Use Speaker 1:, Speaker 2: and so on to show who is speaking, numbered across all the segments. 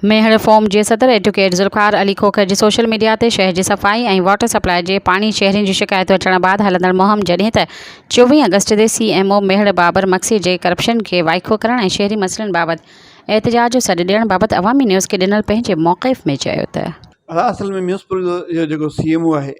Speaker 1: Mehar forum جي صدر advocate Zulfiqar Ali Khokhar جي سوشل ميڊيا تي شهر جي صفائي ۽ واٽر سپلاء جي پاڻي شهرين جون شڪايتون اچڻ بعد هلندڙ مهم جڏهن ته چوويهه آگسٽ تي C M O Mehar Babar Magsi جي ڪرپشن کي وائکو ڪرڻ ۽ شهري مسئلن بابت احتجاج جو سڏ ڏيڻ بابت عوامي نيوز کي ڏنل پنهنجي موقف ۾ چيو ته. اصل ۾ ميونسپل
Speaker 2: جو جيڪو سي ايم او آهي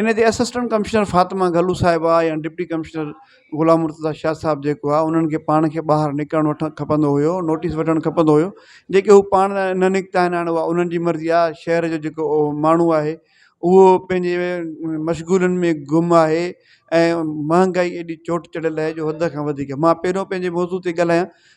Speaker 2: ان تي اسسٽنٽ ڪمشنر فاطمه گهلو صاحبه يا ڊپٽي ڪمشنر غلام مرتضيٰ شاهه صاحب جيڪو آهي انهن کي پاڻ کي ٻاهر نڪرڻ وٺڻ کپندو هيو نوٽيس وٺڻ کپندو هيو جيڪي هو پاڻ نه نڪتا آهن هاڻ اها انهن جي مرضي آهي شهر جو جيڪو ماڻهو آهي اهو پنهنجي مشغولن ۾ گم آهي ۽ مهانگائي ايڏي چوٽ چڙهيل آهي جو حد کان وڌيڪ مان پهريون پنهنجي موضوع تي ڳالهايان